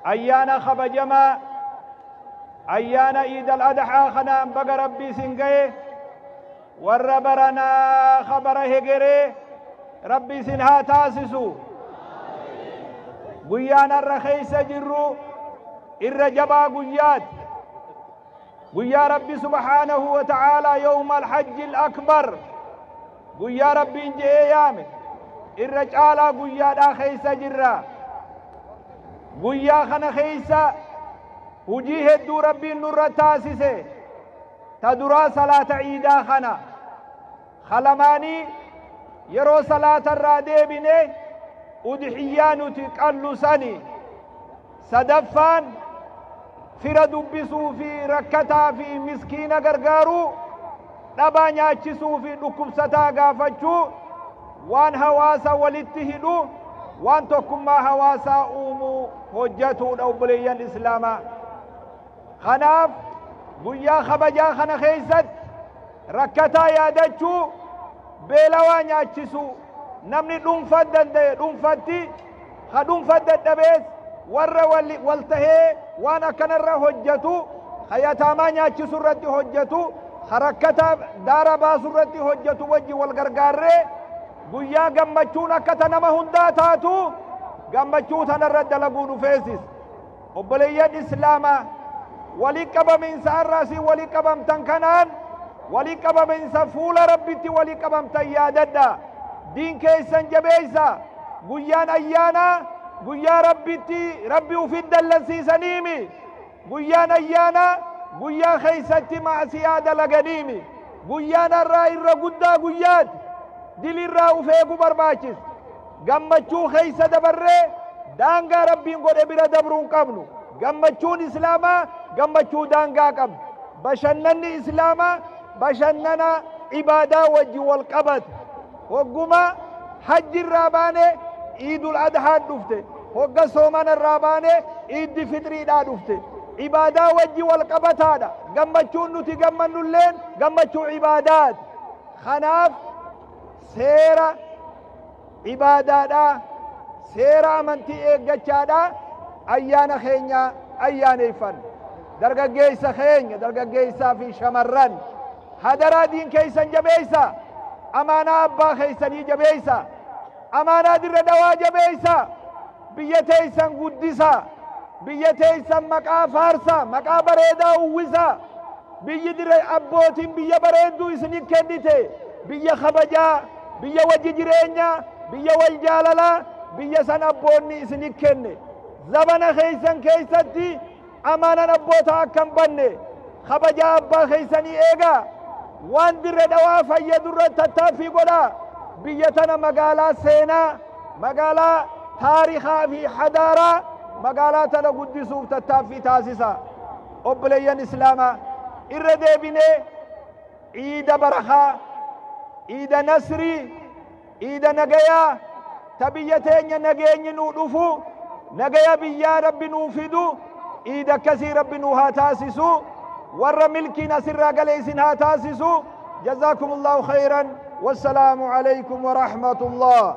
Ayyaana kabajamaa Ayyaana Iid Al Adhaa kanaan baga Rabbi isin gahe warra baranaa ka bara hegeree Rabbi isin haa taasisu. Guyyaan har'a keessa jirru irra jabaa guyyaati. guyyaa rabbi subhaanahu wa ta'aalaa yawma alhajji alakbar guyyaa rabbiin je'ee yaame irra caalaa guyyaadhaa keessa jirra guyyaa kana keessa hujii hedduu rabbiin nurra taasise ta duraa salaata ciidaa kana halamaanii yeroo salaata irraa deebine udhiyyaa nuti qallu sani sadaffaan fira dubbisuu fi rakkataa fi miskiina gargaaruu dhabaa nyaachisuu fi dhukkubsataa gaafachuu waan hawaasa walitti hidhu waan tokkummaa hawaasaa uumuu hojjatuudha obboleeyyan islaamaa Kanaaf guyyaa kabajaa kana keessatti rakkataa yaadachuu, beelawaa nyaachisuu, namni dhuunfa danda'e dhuunfatti, ka dhuunfa dadhabees warra wal tahee waan akkanarra hojjatu, ka yataamaa nyaachisu irratti hojjatu, ka rakkataa daara baasu irratti hojjatu wajji wal gargaarree guyyaa gammachuun akka ta nama hundaa taatu gammachuu tanarra dalaguu dhufeesis. Obboleeyyan Islaamaa! Walitti qabamiinsa arra asiin walitti qabamtan kanaan walitti qabamiinsa fuula Rabbitti walitti qabamtan yaadadhaa. Diin keessan jabeessaa. Guyyaan ayyaanaa guyyaa Rabbitti Rabbi ufitti dallansiisaniimi. Guyyaan ayyaanaa guyyaa keessatti ma'asiyaa dalaganiimi. Guyyaan arraa irra guddaa guyyaati. Dilirraa uf eeguu barbaachisa. Gammachuu keessa dabarree daangaa Rabbiin godhe bira dabruu hin qabnu. Gammachuun Islaamaa gammachuu daangaa qabdu. Bashannanni Islaamaa bashannana ibaadaa wajji wal qabatu. Hogguma hajji irraa baane iidul adhaan dhufte. Hogga soomana irraa baane iiddi fixriidhaa dhufte. Ibaadaa wajji wal qabataadha. Gammachuun nuti gammannulleen gammachuu ibaadaati. Kanaaf seera ibaadaadhaa seera amantii eeggachaadhaa ayyaana keenya ayyaaneeffanna dargaggeessa keenya dargaggeessaa fi shamarran hadaraa diin keessan jabeessa amaanaa abbaa keessanii jabeessa amaanaa dirra dawaa jabeessa biyya teessan guddisa biyya teessan maqaa faarsa maqaa bareedaa uwwisa Biyyi dire abbootiin biyya bareedduu isiniif kennite, biyya kabajaa, biyya wajji jireenyaa, biyya wal jaalalaa, biyya san abboonni isiniif kenne. Zabana keessan keessatti amaanan abbootaa akka hin banne, kabajaa abbaa keessanii eegaa. Waan Dirre Dhawaa fayyadu irratti tattaaffii godhaa. Biyya tana magaalaa seenaa, magaalaa taarikaa fi hadaaraa magaalaa tana guddisuuf tattaaffii taasisaa. Obboleeyyan Islaamaa! Irra deebinee Iida Barakaa, Iida Nasrii, Iida Nagayaa, ta biyya teenya nageenyi nuu dhufu, nagaya biyyaa Rabbi nuu fidu, Iida akkasii Rabbi nuu haa taasisu, warra milkiin asirraa gale isin haa taasisu. Jazaakumullahu khayran. Wassalaamu alaykum wa rahmatullah.